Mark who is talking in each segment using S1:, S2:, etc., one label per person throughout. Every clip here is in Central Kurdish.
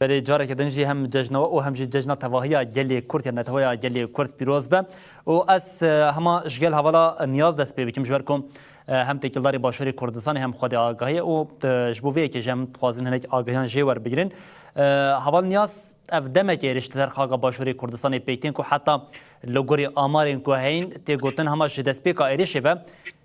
S1: بەلێ
S2: جارێکە دن ژی هەم جەژنەوە ئۆ هەم ژی جەژنە تەڤاهیا گەلێ کورد یا نەتەوەیا گەلێ کورد پیرۆز بە ئۆ ئەس هەما ژگەل هەڤالا نیاز دەست پێ بکیم ژبەر کۆم هەم تێکیلداری باشووری کوردستان هەم خودی ئاگاهی ئۆ ژ بۆ وێ کێژ هەم خوازن هەنێک ئاگاهیان ژێ وەربگرن هەڤال نیاز ئەف دەمەکە هێرش لەسەر خاکە باشووری کوردستانی پێکتێن کو حتا لە گۆری ئامارێن کو هەین تێگوتن هەما ژ دەست پێکا هێرشێ بە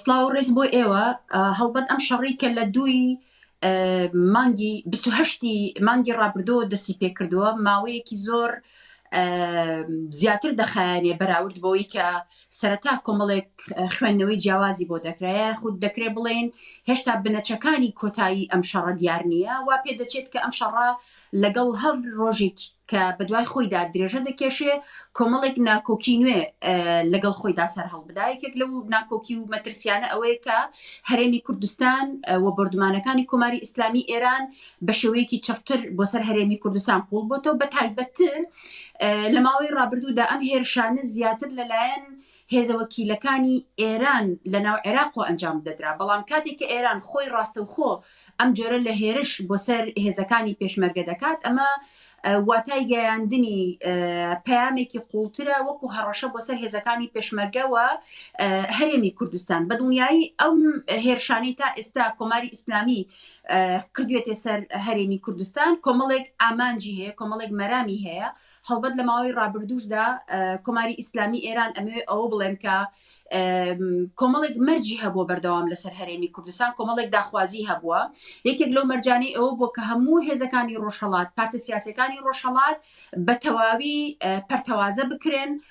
S3: سڵاو و ڕێز بۆ ئێوە هەڵبەت ئەم شەڕی کە لە دووی مانگی 28ی مانگی ڕابردۆ دەسی پێکردووە ماوەیەکی زۆر زیاتر دەخایانێ بەراورد بۆی کە سەرەتا کۆمەڵێک خوێندنەوەی جیاوازی بۆ دەکرایە خود دەکرێ بڵێن هێشتا بنەچەکانی کۆتایی ئەم شەڕە دیار نییە وا پێ دەچێت کە ئەم شەڕە لەگەڵ هەر ڕۆژێک کە بەدوای خۆیدا درێژە دەکێشێ کۆمەڵێک ناکۆکی نوێ لەگەڵ خۆیدا سەر هەڵبدا یەکێک لەو ناکۆکی و مەترسیانە ئەوەیە کە هەرێمی کوردستان و بردمانەکانی کۆماری ئیسلامی ئێران بە شێوەیەکی چڕتر بۆ سەر هەرێمی کوردستان قوڵ بۆتەوە بە تایبەتتر لە ماوەی ڕابردوودا ئەم هێرشانە زیاتر لەلایەن هێزە وەکیلەکانی ئێران لە ناو عێراقەوە ئەنجام بدەدرا، بەڵام کاتێک کە ئێران خۆی ڕاستەوخۆ ئەم جۆرە لە هێرش بۆ سەر هێزەکانی پێشمەرگە دەکات ئەمە واتای گەیاندنی پەیامێکی قوڵترە وەکو هەڕەشە بۆ سەر هێزەکانی پێشمەرگە و هەرێمی کوردستان بە دڵنیایی ئەم هێرشانەی تا ئێستا کۆماری ئیسلامی کردوێتێ سەر هەرێمی کوردستان کۆمەڵێک ئامانجی هەیە کۆمەڵێک مەرامی هەیە هەڵبەت لە ماوەی ڕابردووشدا کۆماری ئیسلامی ئێران ئەمەوێ ئەوە بڵێم کە کۆمەڵێک مەرجی هەبووە بەردەوام لەسەر هەرێمی کوردستان کۆمەڵێک داخوازی هەبووە یەکێک لەو مەرجانەی ئەوە بۆ کە هەموو هێزەکانی ڕۆژهڵات پارتە سیاسەکانی ڕۆژهڵات بە تەواوی پەرتەوازە بکرێن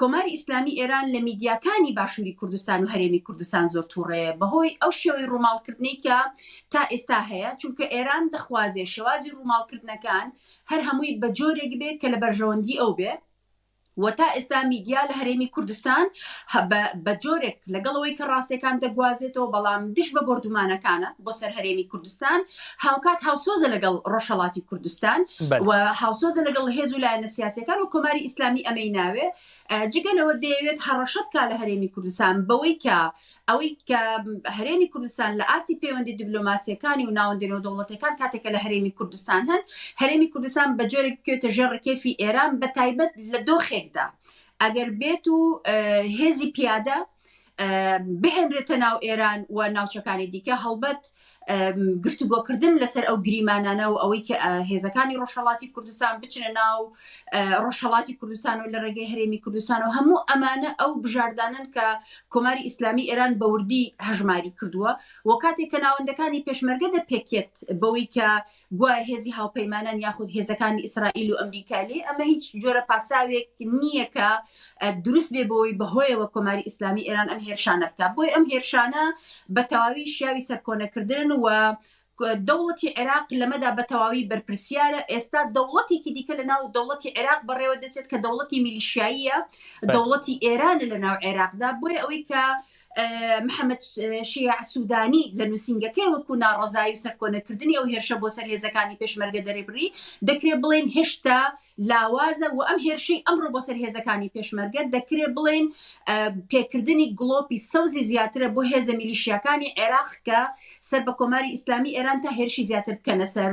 S3: کۆماری ئیسلامی ئێران لە میدیاکانی باشووری کوردستان و هەرێمی کوردستان زۆر تووڕەیە بەهۆی ئەو شێوەی ڕووماڵکردنەی کە تا ئێستا هەیە، چونکە ئێران دەخوازێ شێوازی ڕووماڵکردنەکان هەر هەمووی بە جۆرێک بێ کە لە بەرژەوەندی ئەو بێ و تا ئێستا میدیا لە هەرێمی کوردستان بە جۆرێک لەگەڵ ئەوەی کە ڕاستیەکان دەگوازێتەوە بەڵام دژ بە بۆردومانەکانە بۆ سەر هەرێمی کوردستان هاوکات هاوسۆزە لەگەڵ ڕۆژهەڵاتی کوردستان و هاوسۆزە لەگەڵ هێز و لایەنە سیاسەکان و کۆماری ئیسلامی ئەمەی ناوێ جگە لەوە دەیەوێت هەڕەشە بکە لە هەرێمی کوردستان بەوەی کە ئەوەی کە هەرێمی کوردستان لە ئاستی پەیوەندی دیبلۆماسیەکانی و ناوەندێنەوە دەوڵەتەکان کاتێکە لە هەرێمی کوردستان هەن هەرێمی کوردستان بە جۆرێک بکوێتە ژێر ڕکێفی ئێران بە تایبەت لە دۆخێکدا ئەگەر بێت و هێزی پیادە بهێنرێتە ناو ئێران و ناوچەکانی دیکە هەڵبەت گفتوگۆکردن لەسەر ئەو گریمانانە و ئەوەی کە هێزەکانی ڕۆژهڵاتی کوردستان بچنە ناو ڕۆژهڵاتی کوردستان و لە ڕێگەی هەرێمی کوردستان و هەموو ئەمانە ئەو بژاردانن کە کۆماری ئیسلامی ئێران بەوردی هەژماری کردووە و کاتێک کە ناوەندەکانی پێشمەرگە دەپێکێت بەوەی کە گوایە هێزی هاوپەیمانان یاخود هێزەکانی ئیسرائیل و ئەمریکا لێ ئەمە هیچ جۆرە پاساوێک نییە کە دروست بێ بۆی بەهۆیەوە کۆماری ئیسلامی ئێران ئەم هێرشانە بکە بۆی ئەم هێرشانە بە تەواوی شیاوی سەرکۆنەکردن و دەوڵەتی عێراق لەمەدا بە تەواوی بەرپرسیارە ئێستا دەوڵەتێکی دیکە لە ناو دەوڵەتی عێراق بەڕێوە دەچێت کە دەوڵەتی میلیشیاییە دەوڵەتی ئێرانە لە ناو عێراقدا بۆیە ئەوەی کە محەمەد شیاع سوودانی لە نووسینگەکەی وەکو ناڕەزایی و سەرکۆنەکردنی ئەو هێرشە بۆ سەر هێزەکانی پێشمەرگە دەرێبری دەکرێت بڵێن هێشتا لاوازە و ئەم هێرشەی ئەمڕۆ بۆ سەر هێزەکانی پێشمەرگە دەکرێت بڵێن پێکردنی گڵۆپی سەوزی زیاترە بۆ هێزە میلیشیاکانی عێراق کە سەر بە کۆماری ئیسلامی ئێران تا هێرشی زیاتر بکەنە سەر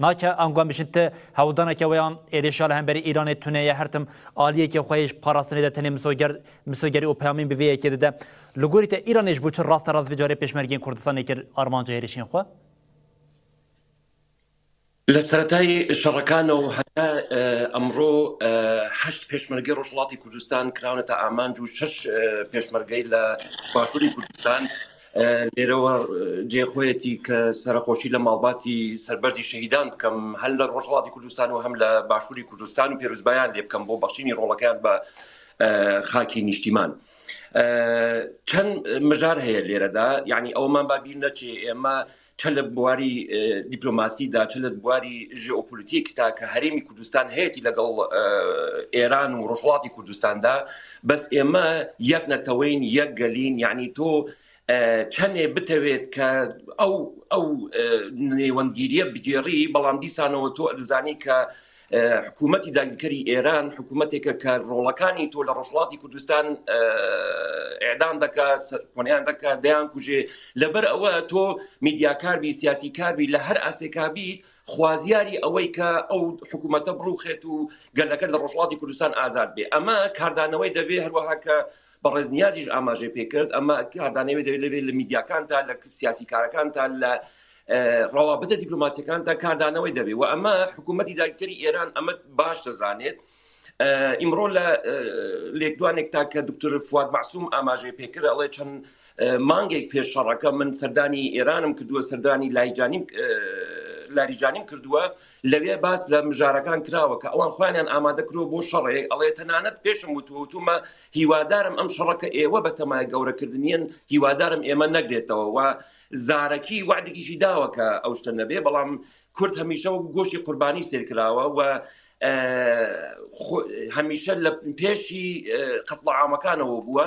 S2: نا کە ئانگوان بشن ت هەوڵدانە کە وەیان ئێرێ شا لە هەمبەری ئیرانێ تونێ یە هەرتم ئالیێ کە خوەیێش پاراستنێ دە تەنێ مسۆگەر مسۆگەری ئوو پەیامین بڤێ یەکێ ددە لە گۆری تە ئیرانێش بوو چ ڕاستە ڕاست ڤجارێ پێشمەرگێن کوردستانێ کرد ئارمانجە هێرشێن خوە.
S1: لە سەرەتای شەڕەکانە و هەتا ئەمڕۆ هەشت پێشمەرگەی ڕۆژهەڵاتی کوردستان کراونەتە ئامانج و شەش پێشمەرگەی لە باشووری کوردستان، لێرەوە جێ خۆیەتی کە سەرخۆشی لە ماڵباتی سەربەرزی شەهیدان بکەم هەر لە ڕۆژهڵاتی کوردستان و هەم لە باشووری کوردستان و پێرزبایان لێ بکەم بۆ بەخشینی ڕۆڵەکەیان بە خاکی نیشتیمان. چەند مژار هەیە لێرەدا یعنی ئەومان بابییر نەچێ ئێمە چ لە بواری دیپلۆماسیدا چ لە بواری ژئۆپۆلیتیک تا کە هەرێمی کوردستان هەیەی لەگەڵ ئێران و ڕژڵاتی کوردستاندا بەس ئێمە یەک نەتەوەین یەک گەلین یعنی تۆ چەندێ بتەوێت کە ئەو ئەو نێوەندگیریە بگێڕی بەڵام دیسانەوە تۆ ئەزانی کە حکوومەتی داگیرکەری ئێران حکوومەتێکە کە ڕۆڵەکانی تۆ لە ڕۆژڵاتی کوردستان ئێدان دەکا سەرکۆنیان دەکا دەیان کوژێ لەبەر ئەوە تۆ میدیاکاربی سیاسی کاربی لە هەر ئاستێکابی خوازیاری ئەوەی کە ئەو حکوومەتە بڕوخێت و گەلەکە لە ڕۆژڵاتی کوردستان ئازاد بێ ئەمە کاردانەوەی دەبێ هەروەها کە بەڕێز نیازیش ئاماژەی پێکرد ئەمە کاردانەوێت دەوێت لەبێت لە میدیاکاندا لە سیاسی کارەکاندا لە ڕەوابتە دیپلوماسیەکاندا کاردانەوەی دەبێت و ئەمە حکوومەتتی داکتری ئێران ئەمە باش دەزانێت ئیمڕۆ لە لێکدوانێکتا کە دکتور فواد معسووم ئاماژەی پێکرد ئەڵێ چەند مانگێک پێش شەڕەکە من سەردانی ئێرانم کردووە سەردانی لایجانیم لاریجانیم کردووە لەوێ باس لە مژارەکان کراوە کە ئەوان خوانیان ئامادە کرۆ بۆ شەڕێک ئەڵێ تەنانەت پێشم وتوتومە هیوادارم ئەم شەڕەکە ئێوە بە تەمای گەورەکردنیان هیوادارم ئێمە نەگرێتەوە و زارەکی وعدێکیشی داوە کە ئەو شتە نەبێ بەڵام کورد هەمیشە وەک گۆشی قوربانی سێرکراوە و هەمیشە لە پێشی قەتڵعامەکانەوە بووە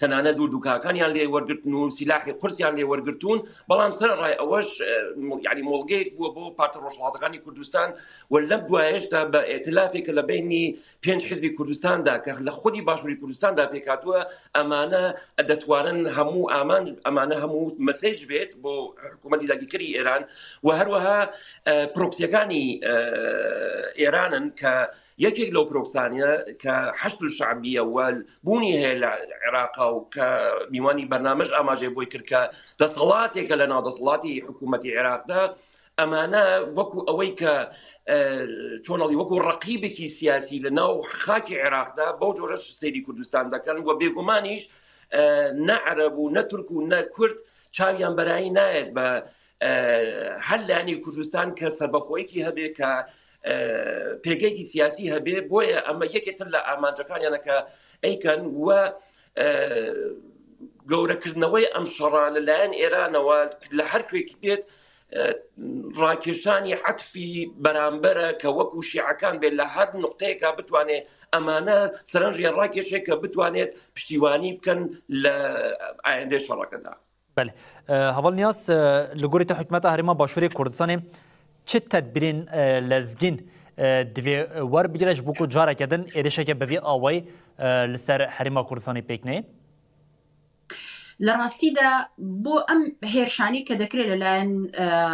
S1: تەنانە دوو دوکاکانیان لێ وەرگتن و سیلاحی قرسیان لێ وەرگتون بەڵام سەر ڕای ئەوەش یعنی مۆڵگەیەک بووە بۆ پارتە ڕۆژڵاتەکانی کوردستان و لەم دوایشدا بە ئێتلافێک لە بینی پێنج حزبی کوردستاندا کە لە خودی باشووری کوردستاندا پێکاتوە ئەمانە دەتوانن هەموو ئامانج ئەمانە هەموو مەسج بێت بۆ حکوومەتی داگیکەری ئێران و هەروەها پرۆکسیەکانی ئێرانن کە یەکێک لەو پرۆکسانە کە حەشد و شعبیە و بوونی هەیە لە عێراقا و کە میوانی بەرنامەش ئاماژێ بۆی کرد کە دەسەڵاتێکە لە ناو دەسەڵاتی حکوومەتتی عێراقدا ئەمانە وەکو ئەوەی کە چۆنڵی وەکو ڕقیبێکی سیاسی لە ناو خاکی عێراقدا بەو جۆرەش سەیری کوردستان دەکەن و بێگومانیش نە عەرەب و نە تورک و نە کورد چاویان بەرایی نایەت بە هەر لانی کوردستان کە سەربەخۆیەکی هەبێ کە پێگەیەکی سیاسی هەبێ بۆیە ئەمە یەکێتر لە ئامانجەکانیانەکە ئەیکەن و گەورەکردنەوەی ئەم شەڕە لەلایەن ئێرانەوە لە هەر کوێکی بێت ڕاکێشانی عەتفی بەرامبەرە کە وەکو شیعەکان بێت لە هەر نقطەیەکە بتوانێت ئەمانە سەرنجیان ڕاکێشێک کە بتوانێت پشتیوانی بکەن لە ئایندێ شەڕەکەدا بەلی
S2: هەڤاڵ نیاز لە گۆرێتە حکومەتە هەرێما باشووری کوردستانێ چ تەدبیرێن لەزگین دوێ وەربگرەش بکو جارەکەدن ئێرشەکە بەێ ئاوای لەسەر هەرێما کوردستانی پێکنێ
S3: لە ڕاستیدا بۆ ئەم هێرشانی کە دەکرێت لەلایەن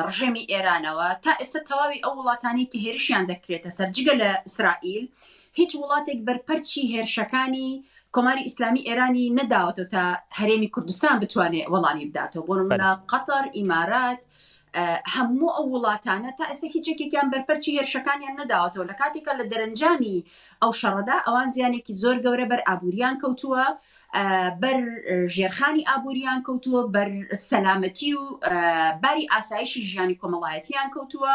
S3: ڕژێمی ئێرانەوە تا ئێستا تەواوی ئەو وڵاتانی کە هێرشیان دەکرێتە سەرجگە لە ئیسرائیل هیچ وڵاتێک بەرپەرچی هێرشەکانی کۆماری ئیسلامی ئێرانی نەداوەتەوە تا هەرێمی کوردستان بتوانێت وەڵامی بداتەوە بۆ نمونە قەتەر ئیمارات هەموو ئەو وڵاتانە تا ئێستا هیچ یەکێکیان بەرپەرچی هێرشەکانیان نەداوەتەوە لە کاتێکە لە دەرەنجامی ئەو شەڕەدا ئەوان زیانێکی زۆر گەورە بەر ئابووریان کەوتووە بەر ژێرخانی ئابووریان کەوتووە بەر سەلامەتی و باری ئاسایشی ژیانی کۆمەڵایەتیان کەوتووە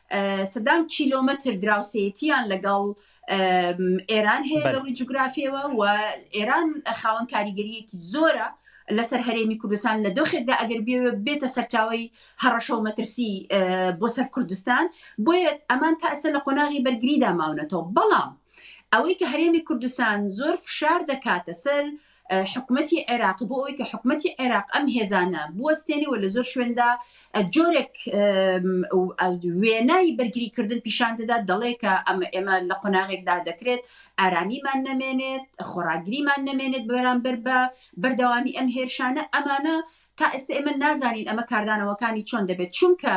S3: سەدان کیلۆمەتر دراوسێیەتیان لەگەڵ ئێران هەیە لە ڕووی جوگرافیەوە و ئێران خاوەن کاریگەریەکی زۆرە لەسەر هەرێمی کوردستان لە دۆخێکدا ئەگەر بێ بێتە سەرچاوی هەڕەشە و مەترسی بۆ سەر کوردستان بۆیە ئەمان تا ئەسە لە قۆناغی بەرگریدا ماونەتەوە بەڵام ئەوەی کە هەرێمی کوردستان زۆر فشار دەکاتە سەر حکومەتی عێراق بۆ ئەوەی کە حکومەتی عێراق ئەم هێزانە بوەستێنی و لە زۆر شوێندا جۆرێک وێنای بەرگریکردن پیشان دەدات دەڵێ کە ئەمە ئێمە لە قۆناغێکدا دەکرێت ئارامیمان نەمێنێت خۆراگریمان نەمێنێت بەرامبەر بە بەردەوامی ئەم هێرشانە ئەمانە تا ئێستە ئێمە نازانین ئەمە کاردانەوەکانی چۆن دەبێت، چونکە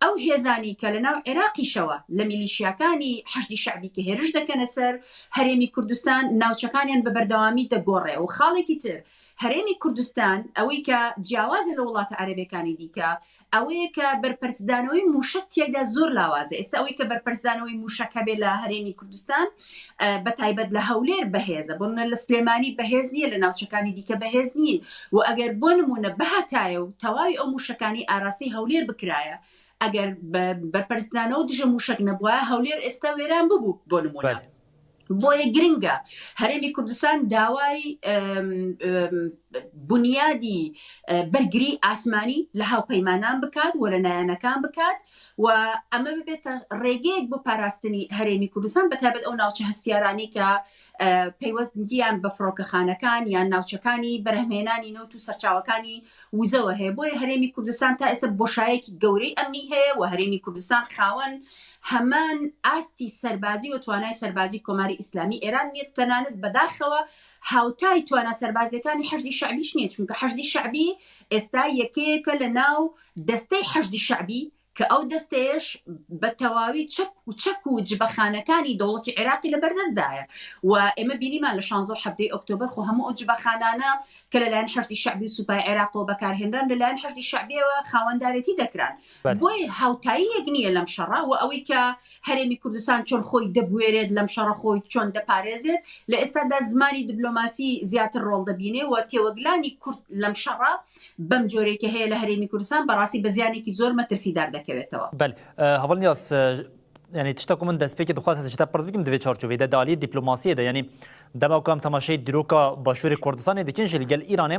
S3: ئەو هێزانەی کە لە ناو عێراقیشەوە لە میلیشیاکانی حەشدی شەعبی کە هێرش دەکەنە سەر هەرێمی کوردستان ناوچەکانیان بە بەردەوامی دەگۆڕێ و خاڵێکی تر هەرێمی کوردستان ئەوەی کە جیاوازە لە وڵاتە عەرەبەکانی دیکە ئەوەیە کە بەرپەرچدانەوەی موشک تێکدا زۆر لاوازە ئێستا ئەوەی کە بەرپەرچدانەوەی موشک هەبێ لە هەرێمی کوردستان بە تایبەت لە هەولێر بەهێزە بۆ منە لە سلێمانی بەهێز نییە لە ناوچەکانی دیکە بەهێز نین و ئەگەر بۆ نمونە بهاتایە و تەواوی ئەو موشەکانی ئاراسی هەولێر بکرایە ئەگەر بەرپەرستانەوە دژە موشک نەبووە هەولێر ئێستا وێران ببوو بۆ نمونە بۆیە گرنگە هەرێمی کوردستان داوای بنیادی بەرگری ئاسمانی لە هاوپەیمانان بکات وەرە نایەنەکان بکات و ئەمە ببێتە ڕێگەیەک بۆ پاراستنی هەرێمی کوردستان بەتابەت ئەو ناوچە هەستیارانی کە پەیوەستگیان بە فڕۆکەخانەکان یان ناوچەکانی بەرهمێنانی نەوت و سەرچاوەکانی وزەوە هەیە بۆیە هەرێمی کوردستان تا ئێستا بۆشایەکی گەورەی ئەمنی هەیە و هەرێمی کوردستان خاوەن هەمان ئاستی سەربازی و توانای سەربازی کۆماری ئیسلامی ئێران نیە تەنانەت بەداخەوە هاوتای توانا سەربازیەکانی حەشدی شعبیش نیە چونکە حەشدی شعبی ئێستا یەکەیەکە لە ناو دەستەی حەشدی شەعبی کە ئەو دەستەیەش بە تەواوی چەک و چەک و جبەخانەکانی دەوڵەتی عێراقی لە بەردەستدایە و ئێمە بینیمان لە شانزە و حەڤدەی ئۆکتۆبەر خۆ هەموو ئەو جبەخانانە کە لەلایەن حەشدی شەعبی و سوپای عێراقەوە بەکارهێنران لەلایەن حەشدی شەعبیەوە خاوەندارێتی دەکران بۆیە هاوتاییەک نییە لەم شەڕە و ئەوەی کە هەرێمی کوردستان چۆن خۆی دەبوێرێت لەم شەڕە خۆی چۆن دەپارێزێت لە ئێستادا زمانی دبلۆماسی زیاتر ڕۆڵ دەبینێ و تێوەگلانی کورد لەم شەڕە بەم جۆرەی کە هەیە لە هەرێمی کوردستان بەڕاستی بە زیانێکی زۆر مەترسیدار دەکەوێتەوە. بەل هەڤل
S2: نیاز یعنی تشتەکو من دەستپێکی دخواست هەسە شتە پرس بکەم دەبێت چارچوێ دە دالی دیپلۆماسیە دە یعنی دەما کام تەماشەی درۆکە باشووری کوردستانی دەکەن ژل گەل ئیرانێ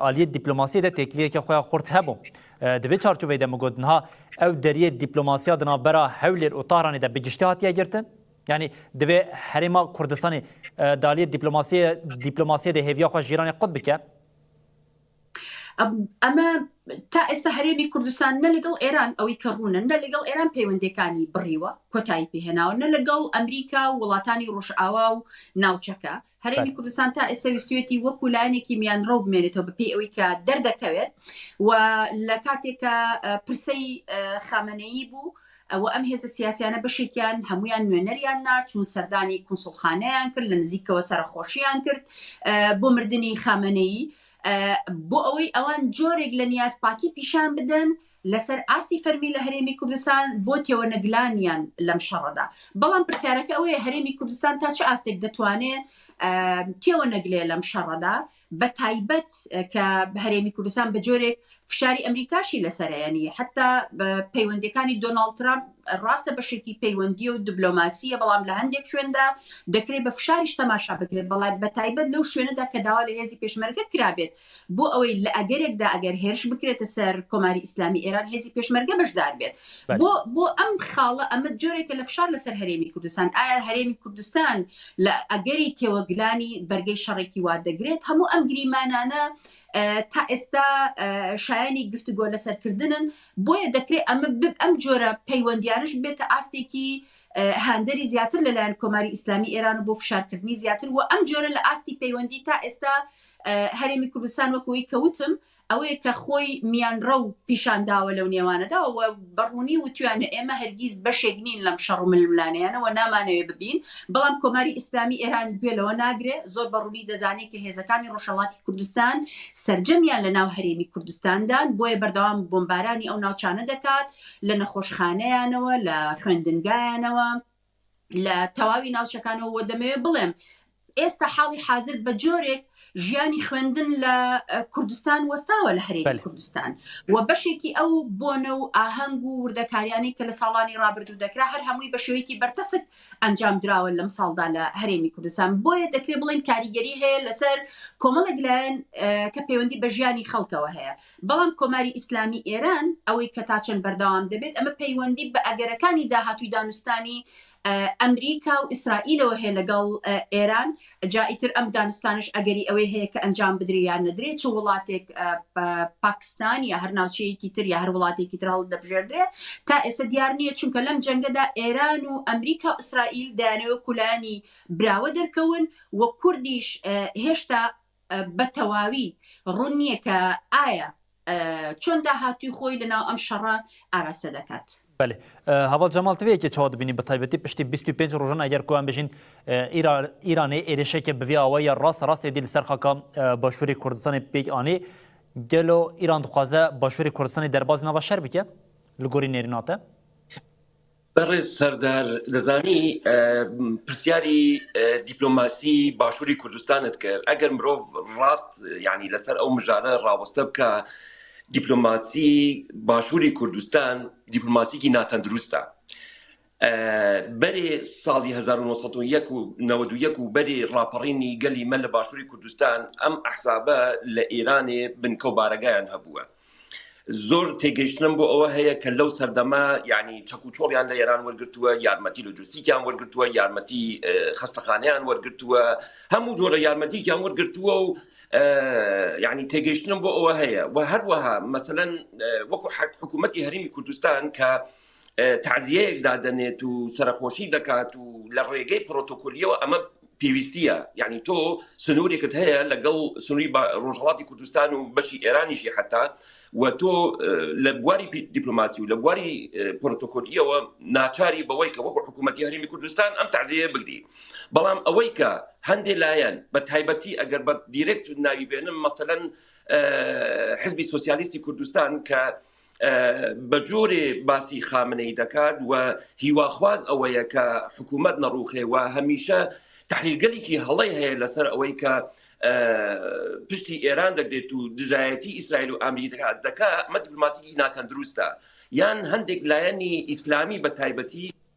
S2: ئالیە دیپلۆماسی دە تێکلیەکە خۆیان خورد هەبوو دەبێت چارچوێ دە مگوتنها ئەو دەریە دیپلۆماسیا دنا بەرا هەولێر و تارانی دە بگشتی هاتیە گرتن یعنی دەبێ هەرێما کوردستانی دالی دیپلۆماسی دیپلۆماسی دە هێویا خۆش جیرانی قوت بکە
S3: ئەمە تا ئێستا هەرێمی کوردستان نە لەگەڵ ئێران ئەوەی کە ڕوونە نە لەگەڵ ئێران پەیوەندەکانی بڕیوە کۆتایی پێهێناوە نە لەگەڵ ئەمریکا و وڵاتانی ڕۆژئاوا و ناوچەکە هەرێمی کوردستان تا ئێستا ویستێتی وەکو لایەنێکی میان ڕەو بمێنێتەوە بەپی ئەوەی کە دەردەکەوێت و لە کاتێکە پرسەی خامنەیی بوو ئەوە ئەم هێزە سیاسیانە بەشێکیان هەموویان نوێنەریان نارد چون سەردانی کونسوڵخانەیان کرد لە نزیکەوە سەرەخۆشیان کرد بۆ مردنی خامەنەیی بۆ ئەوەی ئەوان جۆرێک لە نیاز پاکی پیشان بدەن لەسەر ئاستی فەرمی لە هەرێمی کوردستان بۆ تێوە نەگلانیان لەم شەڕەدا بەڵام پرسیارەکە ئەوەیە هەرێمی کوردستان تا چه ئاستێک دەتوانێت تێوە نەگلێ لەم شەڕەدا بە تایبەت کە هەرێمی کوردستان بە جۆرێک فشاری ئەمریکاشی لەسەرەیەنی حتا پەیوەندەکانی دۆناالد ترامپ ڕاستە بەشێکی پەیوەندی و دبلۆماسیە بەڵام لە هەندێک شوێندا دەکرێت بە فشاریش تەماشا بکرێت بەڵات بە تایبەت لەو شوێنەدا کە داوا لە هێزی پێشمەرگەت کرابێت بۆ ئەوەی لە ئەگەرێکدا ئەگەر هێرش بکرێتە سەر کۆماری ئیسلامی ئێران هێزی پێشمەرگە بەشدار بێت بۆ بۆ ئەم خاڵە ئەمە جۆرێکە لە فشار لەسەر هەرێمی کوردستان ئایا هەرێمی کوردستان لە ئەگەری تێوەگلانی بەرگەی شەڕێکی وا دەگرێت، هەموو ئەم گریمانانە تا ئێستا شایانی گفتوگۆ لەسەر کردنن، بۆیە دەکرێت ئەمە ئەم جۆرە پەیوەندیانەش ببێتە ئاستێکی هاندەری زیاتر لەلایەن کۆماری ئیسلامی ئێران و بۆ فشارکردنی زیاتر و ئەم جۆرە لە ئاستی پەیوەندی تا ئێستا هەرێمی کوردستان وەکەوەی کەوتم ئەوەیە کە خۆی میانڕەو پیشان داوە لەو نێوانەدا و بە ڕوونی وتویانە ئێمە هەرگیز بەشێک نین لەم شەڕ و ململانێیانە و نامانەوێ ببین، بەڵام کۆماری ئیسلامی ئێران گوێ لەوە ناگرێ، زۆر بە ڕوونی دەزانێ کە هێزەکانی ڕۆژهەڵاتی کوردستان سەرجەمیان لە ناو هەرێمی کوردستان دان، بۆیە بەردەوام بۆمبارانی ئەو ناوچانە دەکات، لە نەخۆشخانەیانەوە، لە خوێندنگایانەوە. لە تەواوی ناوچەکانەوە وە دەمەوێت بڵێم ئێستا حاڵی حاضر بە جۆرێک ژیانی خوێندن لە کوردستان وەستاوە لە هەرێمی کوردستان و بەشێکی ئەو بۆنە و ئاهەنگ و وردەکاریانی کە لە ساڵانی رابرردوو دەکرا هەر هەمووی بە شێوەیەکی بەرتەسک ئەنجام دراوە لەم ساڵدا لە هەرێمی کوردستان بۆیە دەکرێت بڵین کاریگەری هەیە لەسەر کۆمەڵێک لایەن کە پەیوەندی بە ژیانی خەڵکەوە هەیە بەڵام کۆماری ئیسلامی ئێران ئەوەی کە تا چەند بەردەوام دەبێت ئەمە پەیوەندی بە ئەگەرەکانی داهاتووی دانوستانی ئەمریکا و ئیسرائیلەوە هەیە لەگەڵ ئێران جا ئیتر ئەم دانوستانش ئەگەری ئەوەی هەیە کە ئەنجام بدرێ یان نەدرێ چ وڵاتێک پاکستان یا هەر ناوچەیەکی تر یا هەر وڵاتێکی تر هەڵدەبژێردرێ تا ئێستا دیار نییە چونکە لەم جەنگەدا ئێران و ئەمریکا و ئیسرائیل دەیانەوە کولانی براوە دەرکەون و کوردیش هێشتا بە تەواوی ڕوون نییە کە ئایا چۆن داهاتووی خۆی لە ناو ئەم شەڕە ئاراستە دەکات. بەێ
S2: هەواڵ جەماڵ تێ یەکێ چاوا دبینی بە تایبەتی پشتی 25 ڕژن ئەگەر کوان بژین ئیرانێ ئێرشێکە بڤ ئەوە یا ڕاست ڕاستی دیل سەرخەکە باشووری کوردستانی پێک ئانی گەلۆ ئیران دخوازە باشووری کوردستانی دەرباز نەوە شەر بکە لە گۆری نێریناتە
S1: بەڕێز سەردار دەزانی پرسیاری دیپلۆماسی باشووری کوردستانت کرد ئەگەر مرۆڤ ڕاست ینی لەسەر ئەو مژارە ڕاوەستە بکە دیپلۆماسی باشووری کوردستان دیپلۆماسیکی ناتەندروستە آه، بەرێ ساڵی 1990 و نەوەد و یەک و بەرێ ڕاپەڕینی گەلی مە لە باشووری کوردستان ئەم ئەحزابە لە ئێرانێ بنکە و بارەگایان هەبووە زۆر تێگەیشتنم بۆ ئەوە هەیە کە لەو سەردەمە یعنی چەک و چۆڵیان لە ئێران وەرگتووە یارمەتی لوجستیکیان وەرگتووە یارمەتی خەستەخانیان وەرگتووە هەموو جۆرە یارمەتیکیان وەرگتووە و یعنی تێگەیشتنم بۆ ئەوە هەیە و هەروەها مەسەەن وەکو حکوومەتتی هەرمی کوردستان کە تەعزیەیەک دادەنێت و سەرەخۆشی دەکات و لە ڕێگەی پرۆتۆکۆلیەوە ئەمە پێویستیە یعنی تۆ سنوورێکت هەیە لەگەڵ سنووری بە ڕۆژهڵاتی کوردستان و بەشی ئێرانیشی حتا و تۆ لە بواری دیپلوماسی و لە بواری پرۆتۆکۆلیەوە ناچاری بەوەی کە وەکو حکوومەتتی هەرمی کوردستان ئەم تازەیە بگری بەڵام ئەوەی کە هەندێ لایەن بە تایبەتی ئەگەر بە دیرێکت ناوی بێنم مەسەەن حزبی سوسیالیستی کوردستان کە بە جۆرێ باسی خامنەی دەکات و هیواخواز ئەوەیە کە حکوومەت نەڕوخێ و هەمیشە تحلیلگەلێکی هەڵی هەیە لەسەر ئەوەی کە پشتی ئێران دەگرێت و دژایەتی ئیسرائیل و ئامری دەکات دەکە مە دیبلوماتیکی ناتەندروستە یان هەندێک لایەنی ئیسلامی بە تایبەتی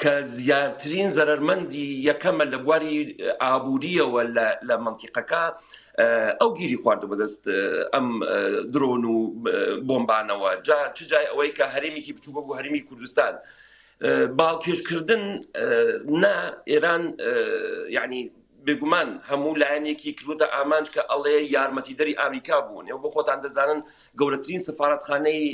S1: کە زیاترین زەرەرمەندی یەکەمە لە بواری ئابووریەوە لە مەنتیقەکە ئەو گیری خواردە بەدەست ئەم درۆن و بۆمبانەوە جا چ جای ئەوەی کە هەرێمێکی بچووکە بۆ هەرمی کوردستان. باڵکێشکردن نە ئێران یعنی بێگومان هەموو لایەنێکی کردوتە ئامانج کە ئەڵێ یارمەتی دەری ئامریکا بوون ئەو بۆ خۆتان دەزانن گەورەترین سفااتخانەی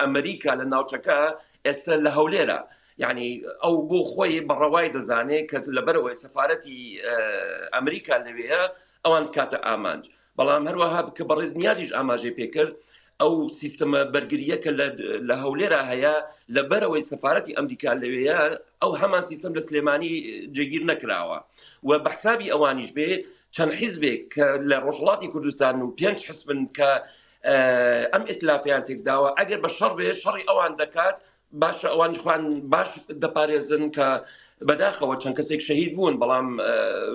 S1: ئەمریکا لە ناوچەکە ئێستا لە هەولێرە یەعنی ئەو بۆ خۆی بە ڕەوای دەزانێ کە لەبەرەوەی سەفارەتی ئەمریکا لەوێە ئەوان بکاتە ئامانج بەڵام هەروەها بکە بە ڕێز نیازیش ئاماژەی پێکرد ئەو سیستەمە بەرگریە کە لە هەولێرا هەیە لە بەرەوەی سەفاەتی ئەمریکا لەوەیە ئەو هەمان سیستم لە سلێمانی جێگیر نەکراوە و بەحسابی ئەوانیش بێ چەند حیزبێک کە لە ڕۆژڵاتی کوردستان و پێنج حسبن کە ئەم ئتلافیان تێکداوە ئەگەر بە شەڕ بێ شەڕی ئەوان دەکات باشە ئەوان خوان باش دەپارێزن کە بەداخەوە چەند کەسێک شەهید بوون بەڵام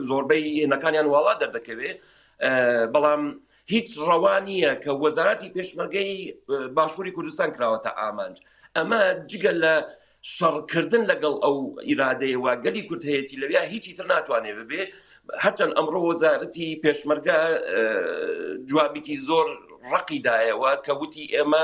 S1: زۆربەی هێنەکانیان واڵا دەردەکەوێ بەڵام هیچ ڕەوا نییە کە وەزارەتی پێشمەرگەی باشووری کوردستان کراوەتە ئامانج ئەمە جگە لە شەڕکردن لەگەڵ ئەو ئیرادەیەوە گەلی کورد هەیەی لەویا هیچی تر ناتوانێت ببێ هەرچەند ئەمڕۆ وەزارەتی پێشمەرگە جوابێکی زۆر ڕقیدایەوە کە وتی ئێمە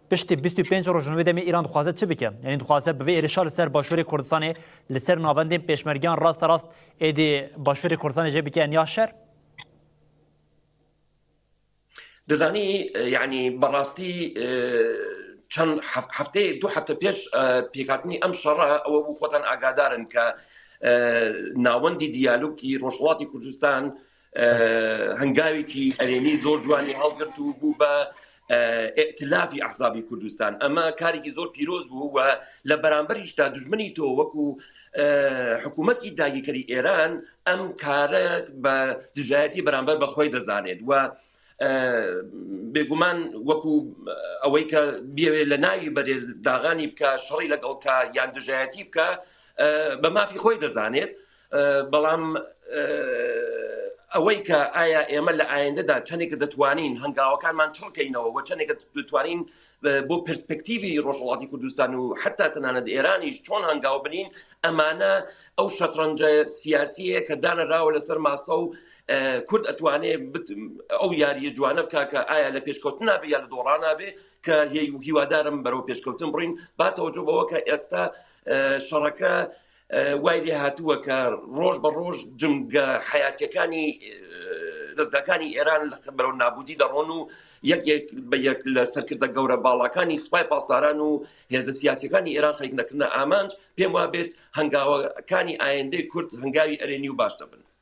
S2: پشت بیست و پێنج رۆژنامەی دەمی ئیران دخوازێ چ بکە؟ یانی دخوازێ بڤە ئێرشا لە سەر باشوری کوردستانێ لە سەر ناڤەندێن پێشمەرگیان راستە راست ئێ دێ باشوری کوردستانێ جێ بکێن یا شەر؟
S1: دەزانی یانی بە راستی چەند هەفتەی دو هەفتە پێش پێکاتنی ئەم شەڕە ئەوە بوو خۆتان ئاگادارن کە ناوەندی دیالوکی رۆژهڵاتی کوردستان هەنگاوێکی ئەرێنی زۆر جوانی هەڵگرت و بوو بە ئەتلافی ئەحزابی کوردستان ئەمە کارێکی زۆر پیرۆز بوو و لە بەرامبەریشدا دژمنی تۆ وەکو حکوومەتی داگیکەری ئێران ئەم کارە بە دژایەتی بەرامبەر بەخۆی دەزانێت و بێگومان وەکو ئەوەی کە بێوێ لە ناوی بەرێ داغانی بکە شەڕی لەگەڵکە یان دژایەتی بکە بە مافی خۆی دەزانێت بەڵام ئەوەی کە ئایا ئێمە لە ئایندەدا چەندێک دەتوانین هەنگاوەکانمان چڕکەینەوە و چەندێک دەتوانین بۆ پرسپەکتیوی ڕۆژهڵاتی کوردستان و حتا تەنانەت ئێرانیش چۆن هەنگاو بنین ئەمانە ئەو شەترەنجە سیاسیە کە دانراوە لەسەر ماسە و کورد ئەتوانێ ئەو یاریە جوانە بکە کە ئایا لە پێشکەوتن نابێ یا لە دۆڕانابێ کە هیوادارم بەرەو پێشکەوتن بڕین باتەوەجو بەوە کە ئێستا شەڕەکە وای لێ هاتووە کە ڕۆژ بە ڕۆژ جمگە حیاتەکانی دەستگاکانی ئێران لە بەرەو نابودی دەڕۆن و یەک بە یەک لە سەرکردە گەورە باڵاکانی سوپای پاسداران و هێزە سیاسەکانی ئێران خەریک نەکردە ئامانج پێم وابێت هەنگاوەکانی ئایندەی کورد هەنگاوی ئەرێنی و باش دەبن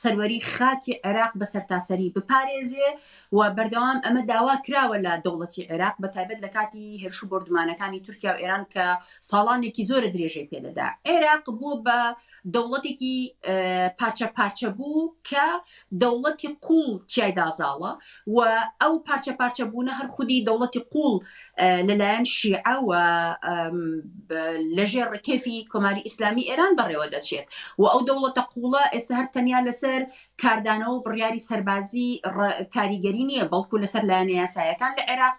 S3: سەروەری خاکی عێراق بە سەرتاسەری بپارێزێ و بەردەوام ئەمە داوا کراوە لە دەوڵەتی عێراق بە تایبەت لە کاتی هێرش و بۆردومانەکانی تورکیا و ئێران کە ساڵانێکی زۆرە درێژەی پێدەدا عێراق بووە بە دەوڵەتێکی پارچە پارچە بوو کە دەوڵەتی قوڵ تیایدا زاڵە و ئەو پارچە پارچە بوونە هەر خودی دەوڵەتی قوڵ لەلایەن شیعە و لەژێر ڕکێفی کۆماری ئیسلامی ئێران بەڕێوە دەچێت و ئەو دەوڵەتە قوڵە ئێستا هەر تەنیا لەسەر کاردانەوە بڕیاری سەربازی کاریگەری نییە بەڵکو لەسەر لایەنە یاسایەکان لە عێراق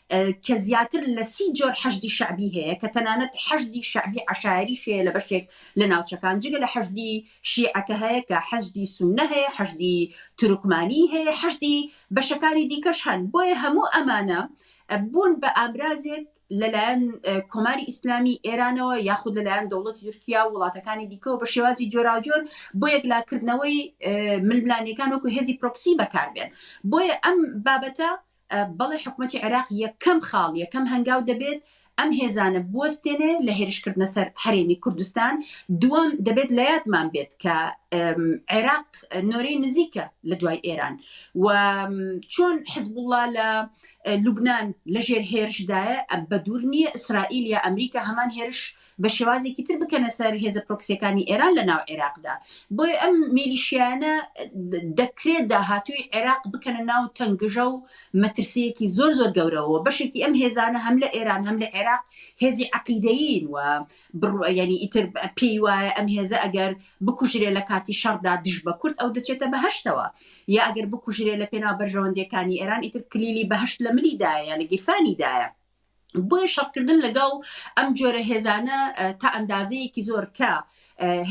S3: کە زیاتر لە سی جۆر حەشدی شەعبی هەیە کە تەنانەت حەشدی شەعبی عەشایەریش هەیە لە بەشێک لە ناوچەکان جگە لە حەشدی شیعە کە هەیە کە حەشدی سوننە هەیە حەشدی تورکمانی هەیە حەشدی بەشەکانی دیکەش هەن بۆیە هەموو ئەمانە بوون بە ئامرازێک لەلایەن کۆماری ئیسلامی ئێرانەوە یاخود لەلایەن دەوڵەتی تورکیا و وڵاتەکانی دیکەەوە بە شێوازی جۆراوجۆر بۆ یەکلاکردنەوەی ململانەکان وەکو هێزی پرۆکسی بەکاربێن بۆیە ئەم بابەتە بەڵێ حکومەتی عێراق یەکەم خاڵ، یەکەم هەنگاو دەبێت ئەم هێزانە بوەستێنێ لە هێرشکردنە سەر هەرێمی کوردستان، دووەم دەبێت لە یادمان بێت کە عێراق نۆرەی نزیکە لە دوای ئێران و چۆن حزبوڵا لە لوبناان لەژێر هێرشدایە بە دوور نییە ئیسرائیل یا ئەمریکا هەمان هێرش بە شێوازێکی تر بکەنە سەر هێزە پرۆکسیەکانی ئێران لە ناو عێراقدا بۆی ئەم میلیشیانە دەکرێت داهاتووی عێراق بکەنە ناو تەنگژە و مەترسیەکی زۆر زۆر گەورەوە بەشێکی ئەم هێزانە هەم لە ئێران هەم لە عێراق هێزی عقیدەین و بڕوەیانی ئیتر پێی وایە ئەم هێزە ئەگەر بکوژرێ لە کاتی شەڕدا دژ بە کورد ئەو دەچێتە بەهشتەوە یا ئەگەر بکوژرێ لە پێناو بەرژەوەندەکانی ئێران ئیتر کلیلی بەهشت لە ملیدایە لە گیرفانیدایە بۆیە شەڕکردن لەگەڵ ئەم جۆرە هێزانە تا ئەندازەیەکی زۆر کە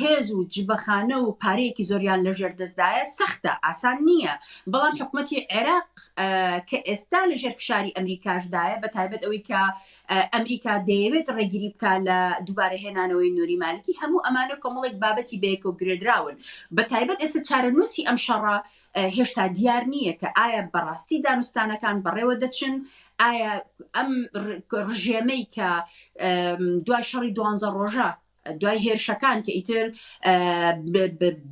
S3: هێز و جبەخانە و پارەیەکی زۆریان لە ژێر دەستدایە سەختە ئاسان نییە بەڵام حکوومەتی عێراق کە ئێستا لە ژێر فشاری ئەمریکاشدایە بە تایبەت ئەوەی کە ئەمریکا دەیەوێت ڕێگیری بکە لە دووبارە هێنانەوەی نووری مالکی هەموو ئەمانە کۆمەڵێک بابەتی بەیەکەوە گرێدراون بە تایبەت ئێستا چارەنووسی ئەم شەڕە هێشتا دیار نییە کە ئایا بەڕاستی دانوستانەکان بەڕێوە دەچن ئایا ئەم ڕژێمەی کە دوای شەڕی دوانزە ڕۆژە دوای هێرشەکان کە ئیتر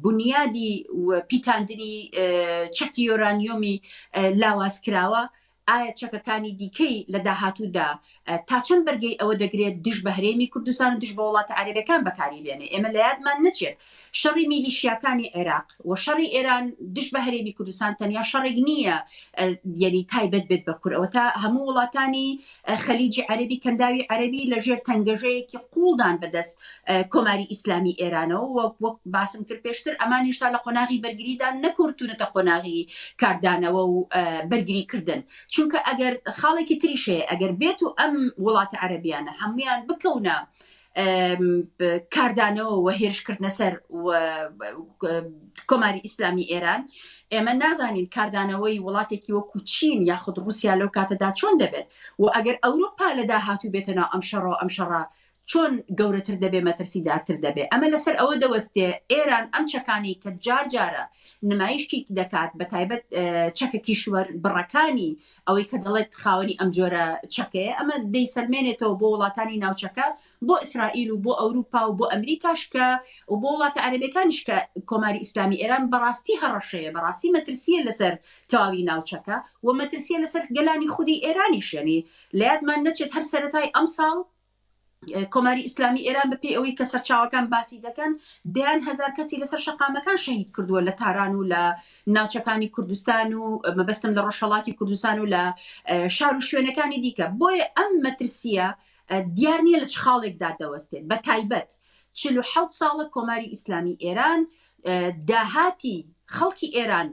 S3: بنیادی پیتاندنی چەکی یۆرانیۆمی لاواز کراوە ئایا چەکەکانی دیکەی لە داهاتوودا تا چەند بەرگەی ئەوە دەگرێت دژ بە هەرێمی کوردستان و دژ بە وڵاتە عەرەبەکان بەکاری بێنێ؟ ئێمە لە یادمان نەچێت شەڕی میلیشیاکانی عێراق و شەڕی ئێران دژ بە هەرێمی کوردستان تەنیا شەڕێک نییە یەنی تایبەت بێت بە کورەوە تا هەموو وڵاتانی خەلیجی عەربی کەنداوی عەربی لەژێر تەنگەژەیەکی قوڵدان بەدەست کۆماری ئیسلامی ئێرانەوە و وەک باسم کرد پێشتر ئەمان هێشتا لە قۆناغی بەرگریدا نەکورتونەتە قۆناغی کاردانەوە و بەرگری کردن چونکە ئەگەر خاڵێکی تریشەیە ئەگەر بێت و ئەم وڵاتە عەربیانە هەمویان بکەونە کاردانەوە و هێرشکردنە سەر کۆماری ئیسلامی ئێران ئێمە نازانین کاردانەوەی وڵاتێکی وەکو چین یاخود رووسیا لەو کاتەدا چۆن دەبێت و ئەگەر ئەوروپا لە داهاتوو بێتە ناو ئەم شەڕەوە ئەم شەڕە چۆن گەورەتر دەبێ مەترسیدارتر دەبێ. ئەمە لەسەر ئەوە دەوەستێ ئێران ئەم چەکانەی کە جار جارە نمایشی دەکات بە تایبەت چەکە کیشوەر بڕەکانی ئەوەی کە دەڵێت خاوەنی ئەم جۆرە چەکەیە ئەمە دەیسەلمێنێتەوە بۆ وڵاتانی ناوچەکە بۆ ئیسرائیل و بۆ ئەوروپا و بۆ ئەمریکاش کە و بۆ وڵاتە عەرەبەکانیش کە کۆماری ئیسلامی ئێران بەڕاستی هەڕەشەیە بەڕاستی مەترسیە لەسەر تەواوی ناوچەکە و مەترسیە لەسەر گەلانی خودی ئێرانیشێنی لە یادمان نەچێت هەر سەرەتای ئەمساڵ کۆماری ئیسلامی ئێران بە پێی ئەوەی کە سەرچاوەکان باسی دەکەن دەیان هزار کەسی لەسەر شەقامەکان شەهید کردووە لە تاران و لە ناوچەکانی کوردستان و مەبەستم لە ڕۆژهڵاتی کوردستان و لە شار و شوێنەکانی دیکە بۆیە ئەم مەترسیە دیار نییە لە چ خاڵێکدا دەوەستێت بە تایبەت چ حوت ساڵە کۆماری ئیسلامی ئێران داهاتی خەڵکی ئێران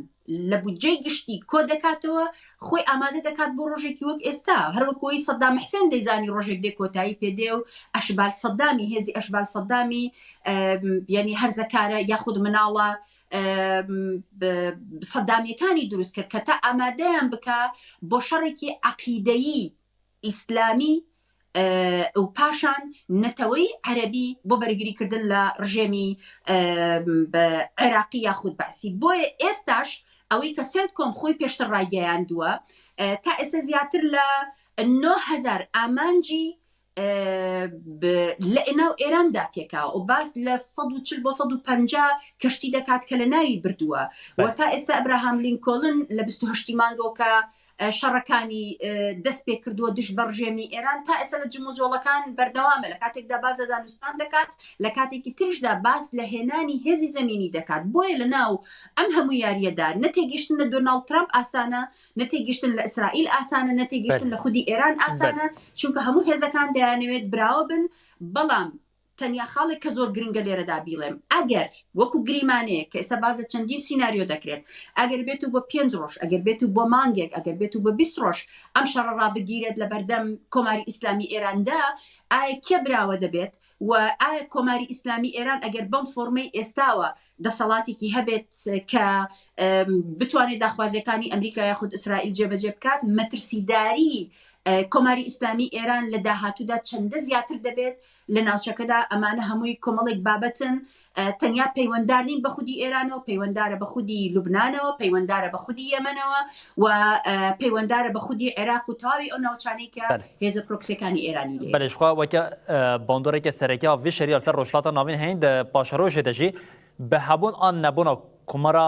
S3: لە بودجەی گشتی کۆ دەکاتەوە، خۆی ئامادە دەکات بۆ ڕۆژێکی وەک ئێستا، هەر وەکو ئەوەی سەدام حسێن دەیزانی ڕۆژێک دێ کۆتایی پێ دێ و ئەشبال سەدامی، هێزی ئەشبال سەدامی یانی هەرزەکارە یاخود مناڵە سەدامییەکانی دروست کرد کە تا ئامادەیان بکا بۆ شەڕێکی عەقیدەیی، ئیسلامی و پاشان نەتەوەی عەرەبی بۆ بەرگری کردن لە ڕژێمی عێراقی یاخود بەعسی بۆیە ئێستاش ئەوەی کە سێنتکۆم خۆی پێشتر ڕایگەیاندووە تا ئێستا زیاتر لە 9000 ئامانجی لە ئێناو ئێراندا تێکا و باس لە 140 بۆ 150 کەشتی دەکات کە لە ناوی بردووە و تا ئێستا ئەبراهام لینکۆلن لە 28 مانگۆکە شەڕەکانی دەست پێ کردووە دژ بە ڕژێمی ئێران تا ئێستا لە جموجۆڵەکان بەردەوامە لە کاتێکدا باز لە دانوستان دەکات لە کاتێکی ترشدا باس لە هێنانی هێزی زمینی دەکات بۆیە لە ناو ئەم هەموو یاریەدا نەتێگەشتن لە دۆناڵد ترامپ ئاسانە نەتێگەشتن لە ئیسرائیل ئاسانە نەتێگەشتن لە خودی ئێران ئاسانە چونکە هەموو هێزەکان دەیانەوێت براوە بن بەڵام تەنیا خاڵێک کە زۆر گرنگە لێرەدا بیڵێم، ئەگەر وەکو گریمانەیەک کە ئێستا باس لە چەندین سیناریۆ دەکرێت، ئەگەر بێت و بۆ پێنج ڕۆژ، ئەگەر بێت و بۆ مانگێک، ئەگەر بێت و بۆ بیست ڕۆژ ئەم شەڕە ڕابگیرێت لە بەردەم کۆماری ئیسلامی ئێراندا، ئایا کێ براوە دەبێت و ئایا کۆماری ئیسلامی ئێران ئەگەر بەم فۆرمەی ئێستاوە دەسەڵاتێکی هەبێت کە بتوانێت داخوازییەکانی ئەمریکا یاخود ئیسرائیل جێبەجێ بکات، مەترسیداریی کۆماری ئیسلامی ئێران لە داهاتوودا چەندە زیاتر دەبێت؟ لە ناوچەکەدا ئەمانە هەمووی کۆمەڵێک بابەتن تەنیا پەیوەندار نین بە خودی ئێرانەوە پەیوەندارە بە خودی لوبناانەوە پەیوەندارە بە خودی یەمەنەوە و پەیوەندارە بە خودی عێراق و تەواوی ئەو ناوچانی کە هێزە پرۆکسەکانی ئێرانی لێ بەلشخوا وەکە
S2: باندۆرێکە سەرەکە وی شەریال سەر ڕۆژلاتە ناوین هەین دە پاشەرۆژێ دەژی بە هەبوون ئان نەبوون کومەرا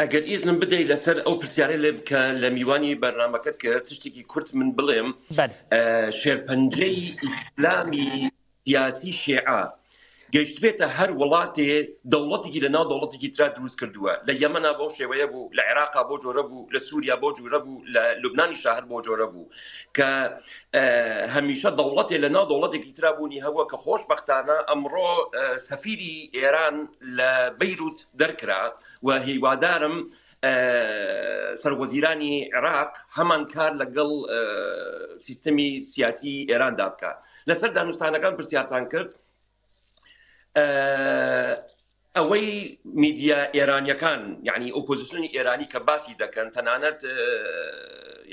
S1: ئەگەر ئیزنم بدەی لەسەر ئەو پرسیارە لێ کە لە میوانی بەرنمەکەت کە تشتێکی کورت من بڵێم بەر شێرپەنجەی ئیسلامی سیاسی شێعە گەشتبێتە هەر وڵاتێ دەوڵەتێکی لە ناو دەوڵەتێکی تررا دروست کردووە لە یەمەنا بەو شێوەیە بوو لە عێراقا بۆ جۆرە بوو لە سووریا بۆ جوورە بوو لە لوبنانی شاهر بۆ جۆرە بوو کە هەمیشە دەوڵەتێ لە ناو دەوڵەتێکی تررابوونی هەبووە کە خۆشببختانە ئەمڕۆ سەفیری ئێران لە بیرروت دەرکرا و هیوادارم سەرۆکوەزیرانی عێراق هەمان کار لەگەڵ سیستەمی سیاسی ئێراندا بکە لەسەر دانوستانەکان پرسیارتان کرد ئەوەی میدیا ئێرانیەکان یعنی ئۆپۆزیسیۆنی ئێرانی کە باسی دەکەن تەنانەت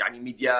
S1: یعنی میدیا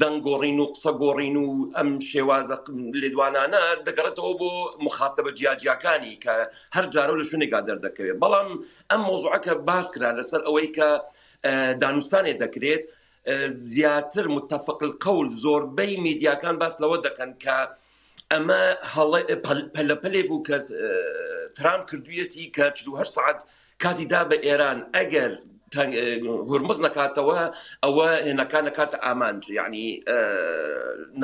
S1: دەنگ گۆڕین و قسە گۆڕین و ئەم شێوازە لێدوانانە دەگەڕێتەوە بۆ مخاتبە جیاجیاکانی کە هەر جارە لە شوێنێکا دەردەکەوێت بەڵام ئەم مۆزوعەکە باس کرا لەسەر ئەوەی کە دانوستانێ دەکرێت زیاتر متتەفقل قەول زۆربەی میدیاکان باس لەوە دەکەن کە ئەمە پەلەپەلێ بوو کە ترام کردویەتی کە 4 سعات کاتی دا بە ئێران ئەگەر هورمز نەکاتەوە ئەوە هێنەکان نەکاتە ئامانج یعنی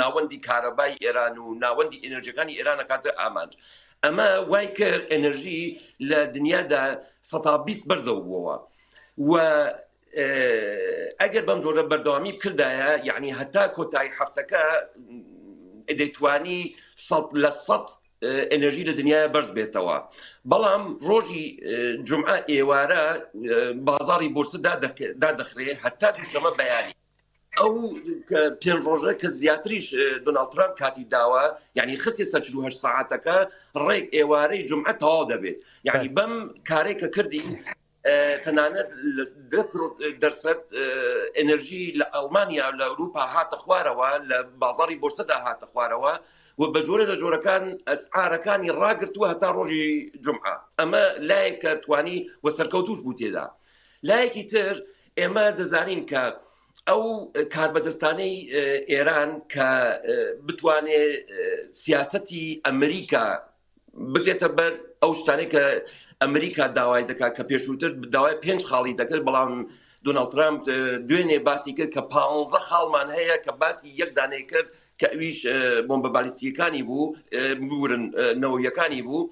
S1: ناوەندی کارەبای ئێران و ناوەندی ئەنرژەکانی ئێران نەکاتە ئامانج ئەمە وای کرد ئەنرژی لە دنیادا سەتا بیست بەرزەوە بووەوە و ئەگەر بەم جۆرە بەردەوامی بکردایە یعنی هەتا کۆتایی هەفتەکە دەیتوانی سە لە سە ئێنێرژی لە دنیاە بەرز بێتەوە بەڵام ڕۆژی جمعە ئێوارە بازاری بورسدا دادەخرێ هەتا دوشەمە بەیانی ئەو پێنج ڕۆژە کە زیاتریش دۆناالد ترامپ کاتی داوە یعنی خستی سەچروه ساعتەکە ڕێک ئێوارەی جمعە تەواو دەبێت یعنی بەم کارێک کە کردی تەنانەت دەرفەت ئەنرژی لە ئەڵمانیا لە ئەوروپا هاتە خوارەوە لە بازاری بۆرسەدا هاتە خوارەوە و بە جۆرە لە جۆرەکان ئەسعارەکانی ڕاگرتووە هەتا ڕۆژی جمعە ئەمە لایەکە توانی و سەرکەوتوش بوو تێدا لایەکی تر ئێمە دەزانین کە ئەو کاربەدەستانەی ئێران کە بتوانێت سیاستی ئەمریکا بگرێتە بەر ئەو شتانەی کە ئەمریکا داوای دەکات کە پێشووتر داوای پێنج خاڵی دەکرد بەڵام دۆناڵد ترامپ دوێنێ باسی کرد کە پ خاڵمان هەیە کە باسی یەک دانەی کرد کە ئەویش بۆمبە بالیستیەکانی بوو بورن نەوەیەکانی بوو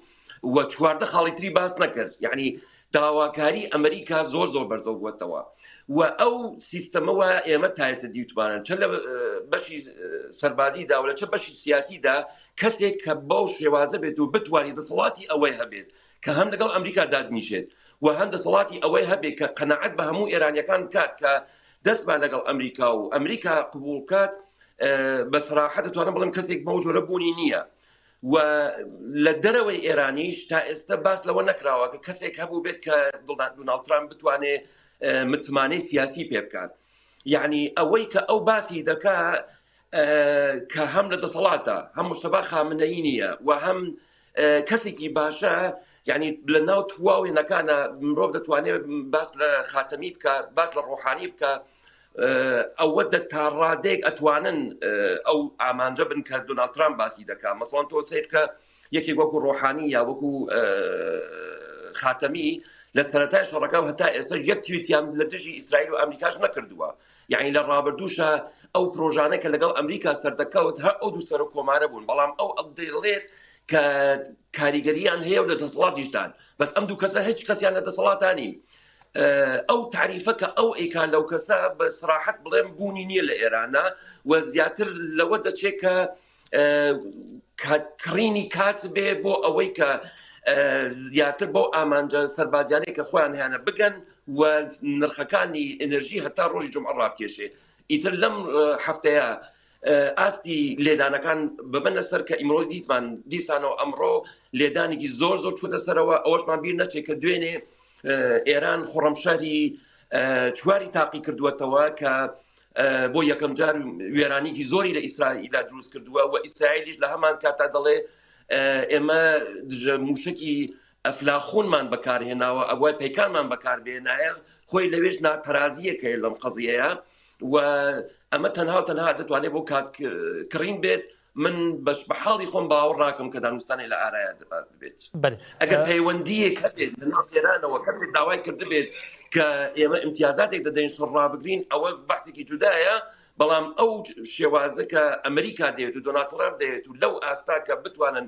S1: و چواردە خاڵی تری باس نەکرد یعنی داواکاری ئەمریکا زۆر زۆر بەرزەو بوەتەوە و ئەو سیستەمە وە ئێمە تایسە دیوتمانن چە لە بەشی سەربازی دا و لە چە بەشی سیاسی دا کەسێک کە بەو شێوازە بێت و بتوانانی دەسەڵاتی ئەوەی هەبێت کە هەم لەگەڵ ئەمریکا دادنیشێت و هەم دەسەڵاتی ئەوەی هەبێت کە قەنەعەت بە هەموو ئێرانیەکان کات کە دەستمان لەگەڵ ئەمریکا و ئەمریکا قبولکات بە سراحەت توانم بڵم کەسێک بەو جۆرە بوونی نییە و لە دەرەوەی ئێرانیش تا ئێستە باس لەوە نەکراوە کە کەسێک هەبوو بێت کە دڵدان دوناڵد ترامپ بتوانێ متمانەی سیاسی پێ بکات یعنی ئەوەی کە ئەو باسی دەکا کە هەم لە دەسەڵاتە هەم مشتبا خامنەی نییە و هەم کەسێکی باشە یعنی لە ناو تواوێنەکانە مرۆڤ دەتوانێت باس لە خاتەمی بکە باس لە ڕۆحانی بکە ئەوە دە تا ڕادەیەک ئەتوانن ئەو ئامانجە بن کە دۆناڵد ترامپ باسی دەکات مەسڵان تۆ سیر کە یەکێک وەکو ڕۆحانی یا وەکو خاتەمی لە سەرەتای شەڕەکە و هەتا ئێستا یەک تویتیان لە دژی ئیسرائیل و ئەمریکاش نەکردووە یعنی لە ڕابردووشە ئەو پرۆژانە کە لەگەڵ ئەمریکا سەردەکەوت هەر ئەو دوو سەر و کۆمارە بوون بەڵام ئەو ئەو دەڵێت کە کاریگەریان هەیە و لە دەسەڵاتیشدان بەس ئەم دوو کەسە هیچ کەسیان لە دەسەڵاتانی ئەو تاریفە کە ئەو ئەیکا لەو کەسە بە سراحەت بڵێم بوونی نییە لە ئێرانە و زیاتر لەوە دەچێت کە کڕینی کات بێ بۆ ئەوەی کە زیاتر بۆ ئامانجە سەربازیانەی کە خۆیان هیانە بگەن و نرخەکانی ئەنرژی هەتا ڕۆژی جمعڕابکێشێ ئیتر لەم هەفتەیە ئاستی لێدانەکان ببنە سەر کە ئیمرۆ دیتمان دیسانەوە ئەمڕۆ لێدانێکی زۆر زۆر چوتە سەرەوە ئەوەشمان بیر نەچێت کە دوێنێ ئێران خڕەمشاری چواری تاقی کردووەتەوە کە بۆ یەکەم جار وێرانیکی زۆری لە ئیسرائیلدا دروست کردووە و ئیسرائیلیش لە هەمان کاتا دەڵێ ئێمە دژە موشکی ئەفلاخونمان بەکارهێناوە ئەوای پیکانمان بەکاربێنایە خۆی لەوێش ناتەرازیەکەی لەم قەزیەیە وە ئەمە تەنها و تەنها دەتوانێت بۆ کات کڕین بێت من بەش بە حاڵی خۆم باوە ڕاکەم کە دانوستانی لە ئارایا دەبات بێت ئەگەر پەیوەندیەک هەبێت لەێرانەوە کەسێک داوای کردبێت کە ئێمە امتیازاتێک دەدەین شڕ ڕابگرین ئەوە بەسێکی جودایە بەڵام ئەو شێوازە کە ئەمریکا دێت و دۆناتڕام دێت و لەو ئاستا کە بتوانن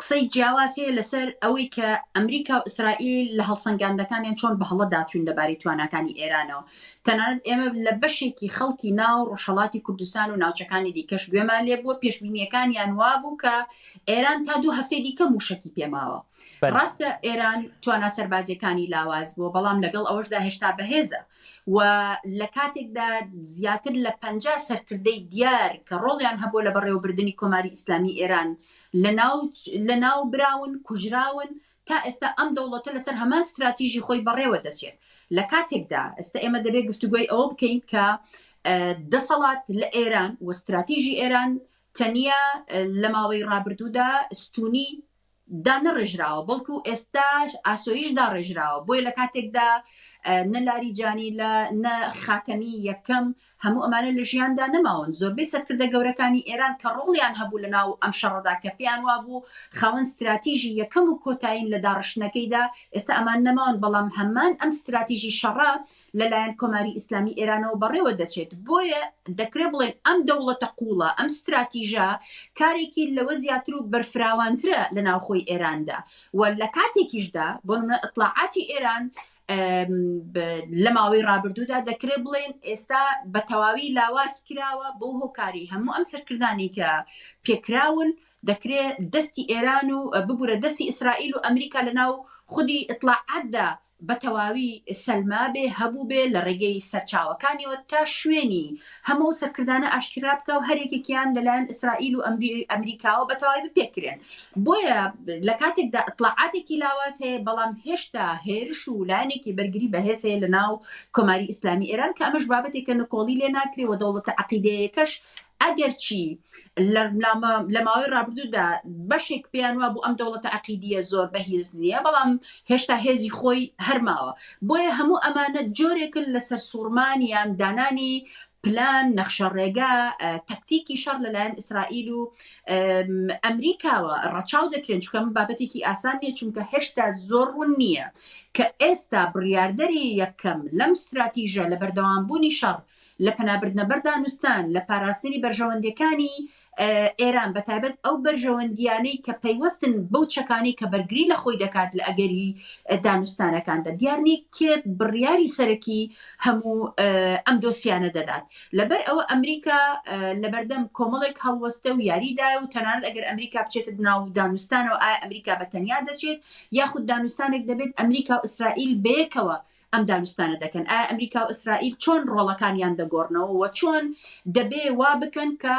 S3: قسەی جیاواز هەیە لەسەر ئەوەی کە ئەمریکا و ئیسرائیل لە هەڵسەنگاندەکانیان چۆن بە هەڵە داچوون لەبارەی تواناکانی ئێرانەوە تەنانەت ئێمە لە بەشێکی خەڵکی ناو ڕۆژهەڵاتی کوردستان و ناوچەکانی دیکەش گوێمان لێ بووە پێشبینیەکانیان وابوو کە ئێران تا دوو هەفتەی دیکە موشکی پێماوە ڕاستە ئێران توانا سەربازیەکانی لاواز بووە بەڵام لەگەڵ ئەوەشدا هێشتا بەهێزە و لە کاتێکدا زیاتر لە پەنجا سەرکردەی دیار کە ڕۆڵیان هەبووە لە بەڕێوەبردنی کۆماری ئیسلامی ئێران لەناوبراون، کوژراون، تا ئێستا ئەم دەوڵەتە لەسەر هەمان ستراتیژی خۆی بەڕێوە دەچێت. لە کاتێکدا ئێستا ئێمە دەبێت گفتوگۆی ئەوە بکەین کە دەسەڵات لە ئێران و ستراتیژی ئێران تەنیا لە ماوەی ڕابردوودا ستوونی، دانەڕێژراوە بەڵکو ئێستا ئاسۆیش داڕێژراوە بۆیە لە کاتێکدا نە لاری جانی لە نە خاتەمی یەکەم هەموو ئەمانە لە ژیاندا نەماون زۆربەی سەرکردە گەورەکانی ئێران کە ڕۆڵیان هەبوو لە ناو ئەم شەڕدا کە پێیان وابوو خاوەن استراتیژی یەکەم و کۆتایین لە داڕشتنەکەیدا ئێستا ئەمان نەماون بەڵام هەمان ئەم استراتیژی شەڕە لەلایەن کۆماری ئیسلامی ئێرانەوە بەڕێوە دەچێت، بۆیە دەکرێ بڵێین ئەم دەوڵەتە قووڵە، ئەم ستراتیژە کارێکی لەوە زیاتر و بەرفراوانترە لە ناوخۆی ئێراندا و لە کاتێکیشدا بۆ نمونە ئیتڵاعاتی ئێران لە ماوەی ڕابردوودا دەکرێ بڵێن ئێستا بە تەواوی لاواز کراوە بۆ هۆکاری هەموو ئەم سەرکردانی کە پێکراون دەکرێت دەستی ئێران و ببوورە دەستی ئیسرائیل و ئەمریکا لە ناو خودی ئیتلاعاتدا بەتەواوی سەلمابێ، هەبووبێ، لە ڕێگەی سەرچاوەکانیەوە تا شوێنی هەموو ئەو سەرکردانە ئاشکرا بکا و هەر یەکێکیان لەلایەن ئیسرائیل و ئەمریکاوە بەتەواوی بپێکرێن. بۆیە لە کاتێکدا ئیتڵاعاتێکی لاواز هەیە، بەڵام هێشتا هێرش و لایەنێکی بەرگری بەهێز هەیە لەناو کۆماری ئیسلامی ئێران کە ئەمەش بابەتێکە نکۆڵی لێ ناکرێ و دەوڵەتە عەقیدەیەکەش ئەگەرچی لە ماوەی ڕابردوودا بەشێک پێیان وابوو ئەم دەوڵەتە عەقیدیە زۆر بەهیز نییە بەڵام هێشتا هێزی خۆی هەرماوە بۆیە هەموو ئەمانە جۆرێکن لە سەرسوڕمانیان دانانی پلان نەخشە ڕێگا تەکتیکی شەڕ لەلایەن ئیسرائیل و ئەمریکاوە ڕەچاو دەکرێن چکەم بابەتێکی ئاسان نیە چونکە هێشتا زۆر ڕوون نییە کە ئێستا بڕاردەری یەکەم لەم استراتیژە لە بەردەوامبوونی شەڕ لە پەنابردنە بەر دانوستان، لە پاراستنی بەرژەوەندیەکانی ئێران بە تایبەت ئەو بەرژەوەندیانەی کە پەیوەستن بەو چەکانەی کە بەرگری لە خۆی دەکات لە ئەگەری دانوستانەکاندا دیارنی کێ بڕیاری سەرەکی هەموو ئەم دۆسیانە دەدات لەبەر ئەوە ئەمریکا لەبەردەم کۆمەڵێک هەڵوەستە و یاریدا و تەنانەت ئەگەر ئەمریکا بچێت ناو دانوستانەوە ئایا ئەمریکا بە تەنیا دەچێت یاخود دانوستانێک دەبێت ئەمریکا و ئیسرائیل بەیەکەوە ئەم دانوستانە دەکەن، ئایا ئەمریکا و ئیسرائیل چۆن ڕۆڵەکانیان دەگۆڕنەوە و چۆن دەبێ وا بکەن کە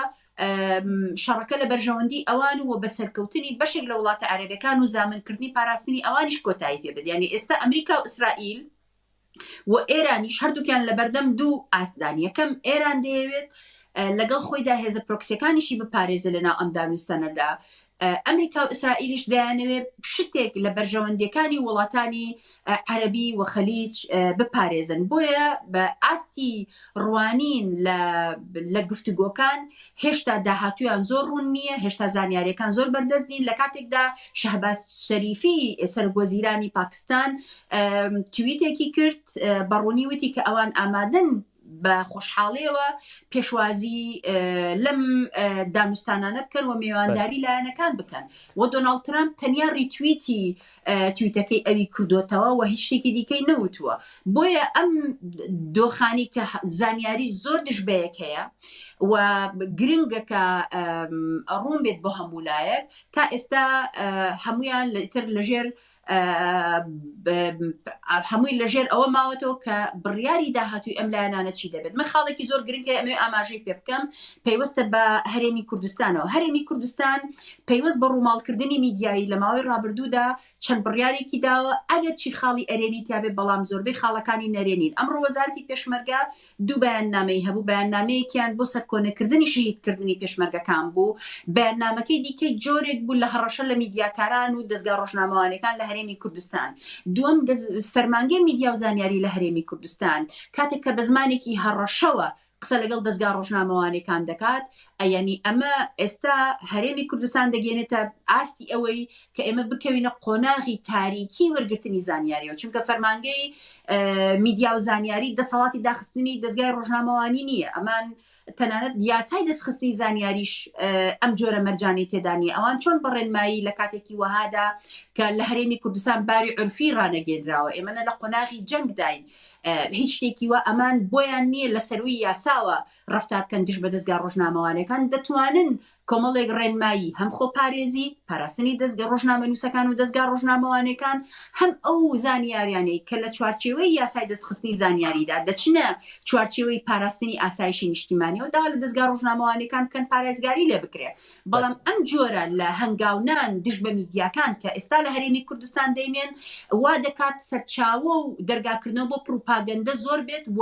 S3: شەڕەکە لە بەرژەوەندی ئەوان و بە سەرکەوتنی بەشێک لە وڵاتە عەرەبەکان و زامنکردنی پاراستنی ئەوانیش کۆتایی پێ بێت یانی ئێستا ئەمریکا و ئیسرائیل و ئێرانیش هەردووکیان لە بەردەم دوو ئاستدان یەکەم ئێران دەیەوێت لەگەڵ خۆیدا هێزە پرۆکسەکانیشی بپارێزە لە ناو ئەم دانوستانەدا ئەمریکا و ئیسرائیلیش دەیانەوێت شتێک لە بەرژەوەندییەکانی وڵاتانی عەرەبی و خەلیج بپارێزن بۆیە بە ئاستی ڕوانین لە گفتوگۆکان هێشتا داهاتویان زۆر ڕوون نییە هێشتا زانیارەکان زۆر بەردەست نین لە کاتێکدا شەهباز شەریفی سەرگۆزیرانی پاکستان تویتێکی کرد بەڕوونی وتی کە ئەوان ئامادەن بە خۆشحاڵیەوە پێشوازی لەم دانوستانانە بکەن و میوانداری لایەنەکان بکەن و دۆناالد ترامپ تەنیا ریتویتی تویتەکەی ئەوی کردوتەوە و هیچ شتێکی دیکەی نەوتووە بۆیە ئەم دۆخانی کە زانیاری زۆر دژ بەیەک هەیە و گرنگەکە ڕوون بێت بۆ هەموو لایەک تا ئێستا هەمویان لەتر لەژێر هەمووی لەژێر ئەوە ماوەتەوە کە بڕیاری داهاتووی ئەم لایەنانە چی دەبێت من خاڵێکی زۆر گرنگە ئەمێ ئاماژەی پێ بکەم پەیوەستە بە هەرێمی کوردستانەوە هەرێمی کوردستان پەیوەست بە ڕووماڵکردنی میدیایی لە ماوەی ڕابردوودا چەند بڕیارێکی داوە ئەگەر چی خاڵی ئەرێنی تیاابێت بەڵام زۆربەی خاڵەکانی نەرێنین ئەم ڕۆوەزارتی پێشمەرگە دوو بەیاننامەی هەبوو، بەیاننامەیەکیان بۆ سەرکۆنەکردنی شەهیدکردنی پێشمەرگەکان بوو، بەیاننامەکەی دیکەی جۆرێک بوو لە هەڕەشە لە میدیاکاران و دەزگا ڕۆژنامەوانیەکان لە هەرێمی کوردستان. دووەم فەرمانگەی میدیا و زانیاری لە هەرێمی کوردستان کاتێک کە بە زمانێکی هەڕەشەوە قسە لەگەڵ دەزگا ڕۆژنامەوانیەکان دەکات، ئەیەنی ئەمە ئێستا هەرێمی کوردستان دەگەیەنێتە ئاستی ئەوەی کە ئێمە بکەوینە قۆناغی تاریکی وەرگرتنی زانیاریەوە چونکە فەرمانگەی میدیا و زانیاری دەسەڵاتی داخستنی دەستگای ڕۆژنامەوانی نییە ئەمان تەنانەت یاسای دەستخستنی زانیاریش ئەم جۆرە مەرجانی تێدانی ئەوان چۆن بەڕێنمایی لە کاتێکی وەهادا کە لە هەرێمی کوردستان باوی عرفی ڕانەگەێنراوە ئێمەە لە قۆناغی جەنگداین هیچ شتێکی وە ئەمان بۆیان نییە لە سەروی یاساوە ڕفتارکەن دژ بە دەستگا ڕۆژنامەوانەکان دەتوانن کۆمەڵێک ڕێنمایی هەم خۆپارێزی، پاراستنی دەزگە ڕۆژنامەنووسەکان و دەزگا ڕۆژنامەوانێکان، هەم ئەو زانیاریانەی کە لە چوارچێوەی یاسای دەستخستنی زانیاریدا دەچنە چوارچێوەی پاراستنی ئاسایشی نیشتیمانیەوە داوا لە دەزگا ڕۆژنامەوانێکان بکەن پارایزگاری لێ بکرێ بەڵام ئەم جۆرە لە هەنگاونان دژ بە میدیاکان کە ئێستا لە هەرێمی کوردستان دەینێن وا دەکات سەرچاوە و دەرگاکردنەوە بۆ پڕوپاگەندە زۆر بێت و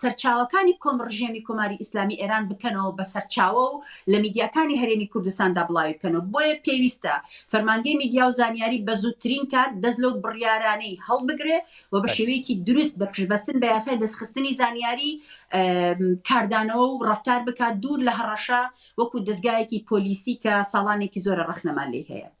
S3: سەرچاوەکانی کۆم ڕژێمی کۆماری ئیسلامی ئێران بکەنەوە بە سەرچاوە و لە میدیاکانی هەرێمی کوردستاندا بڵاوی بکەنەوە بۆیە پێویستە فەرمانگەی میدیا و زانیاری بە زووترین کات دەست لەو بڕیارانەی هەڵبگرێ و بە شێوەیەکی دروست بە پشتبەستن بە یاسای دەستخستنی زانیاری کاردانەوە و ڕفتار بکات دوور لە هەڕەشە وەکو دەستگایەکی پۆلیسی کە ساڵانێکی زۆرە ڕەخنەمان لی هەیە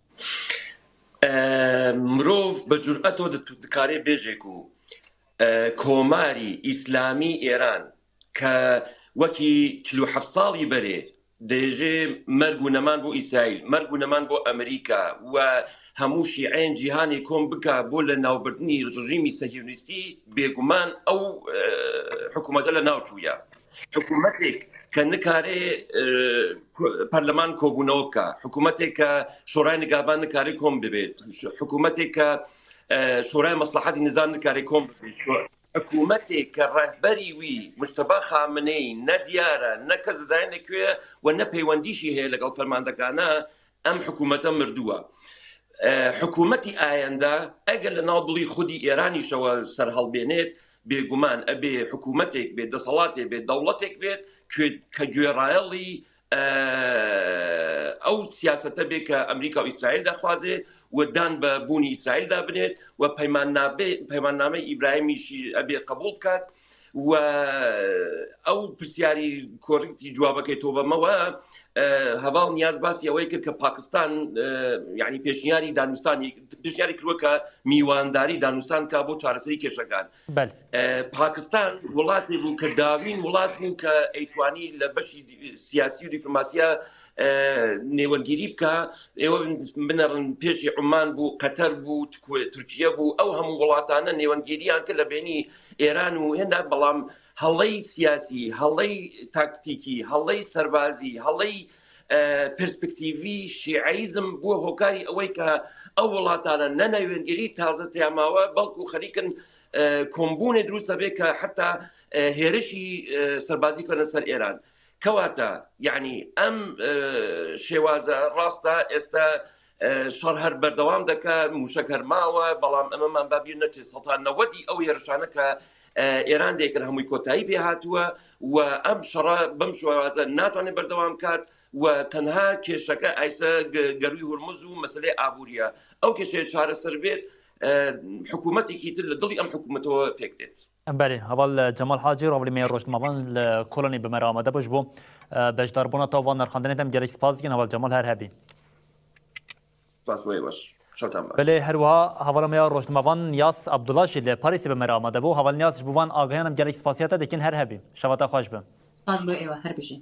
S1: مرۆڤ بە جورئەتەوە دکارێ بێژێک و کۆماری ئیسلامی ئێران کە وەکی چلو ح ساڵی بەرێ دەێژێ مەرگ و نەمان بۆ ئیسرائیل مەرگ و نەمان بۆ ئەمریکا و هەموو شیعێن جیهانی کۆم بکە بۆ لە ناوبردننی ڕژیمی سەهیونیستی بێگومان ئەو حکوومەتە لە ناوچووە حکوومەتێک کە نکارێ پەرلەمان کۆبوونەوە بکە حکوومەتێک کە شۆرای نگابان نکاری کۆم دەبێت حکوومەتێک کە شۆرای مەسلحاتی نزان نکاری کۆم حکوومەتێک کە ڕەهبەری وی مشتبا خامنەی نەدیارە نەکە زانە کوێ و نە پەیوەندیشی هەیە لەگەڵ فەرماندەکانە ئەم حکوومەتە مردووە. حکوومەتی ئایەندە ئەگەر لە ناو دڵی خودی ئێرانیشەوە سەرهەڵبێنێت بێگومان ئەبێ حکوومەتێک بێت دەسەڵاتێ بێت دەوڵەتێک بێت کە گوێڕایەڵی ئەو سیاستە بێ کە ئەمریکا و ئیسرائیل دەخوازێ ودان بە بوونی ئیسرائیلدا بنێت و پەیمان نابێ پەیماننامە ئیبراهیمیشی ئەبێ قبول بکات و ئەو پرسیاری کۆریتی جوابەکەی تۆ بەمەوە هەواڵ نیاز باسی ئەوەی کرد کە پاکستان یعنی پێشنیاری دانوستانی پێشنیاری کردوە کە میوانداری دانوستان کا بۆ چارەسەری کێشەکان پاکستان وڵاتی بوو کە داوین وڵات بوو کە ئەیتوانی لە بەشی سیاسی و دیپلماسیە نێوەرگیری بکە ئێوە بنەڕن پێشی عمان بوو قەتەر بوو تورکیا بوو ئەو هەموو وڵاتانە نێوەنگیریان کە لە بینی ئێران و هێندە بەڵام هەڵەی سیاسی هەڵەی تاکتیکی هەڵەی سەربازی هەڵەی پرسپکتیڤی شیعیزم بووە هۆکاری ئەوەی کە ئەو وڵاتانە نەناوێنگەری تازە تیاماوە بەڵکو خەریکن کۆمبوونێ دروستە بێ کە حتا هێرشی سەربازی کەنە سەر ئێران کەواتە یعنی ئەم شێوازە ڕاستە ئێستا شەڕ هەر بەردەوام دەکا موشەک هەرماوە بەڵام ئەمەمان بابیر نەچێت سەتان نەوەدی ئەو هێرشانە کە ئێران دەیکرد هەمووی کۆتایی پێ هاتووە و ئەم شەڕە بەم شوازە ناتوانێت بەردەوام کات و تەنها کێشەکە ئایسە گەروی هورمز و مەسلەی ئابوووریە ئەو کێشەیە چارەسەر بێت حکوومەتێکی تر لە دڵی ئەم حکوومەتەوە پێک دێت بەلی هەڤال
S2: جەمال حاجی ڕۆڤلی مێ ڕۆژنمەڤان لە کۆلۆنی بمەر ئامادە بوش بۆ بەشدار بونا تاو ڤان نرخاندنێ دەم گەلەک سپاس دکەین هەڤال جەمال هەر هەبی. سپاس بۆ ئێوەش. چۆنتان باش؟ بەلێ هەروەها هەڤاڵە مێ ڕۆژنمەڤان نیاز عەبدوڵا ژی لە پاریسی بمەر ئامادە بو هەڤال نیازش بو ڤان ئاگایانم گەلەک سپاسیاتە دکەین هەر هەبی. شەڤاتان خوەش بم. سپاس بۆ ئێوە هەر
S3: بژین.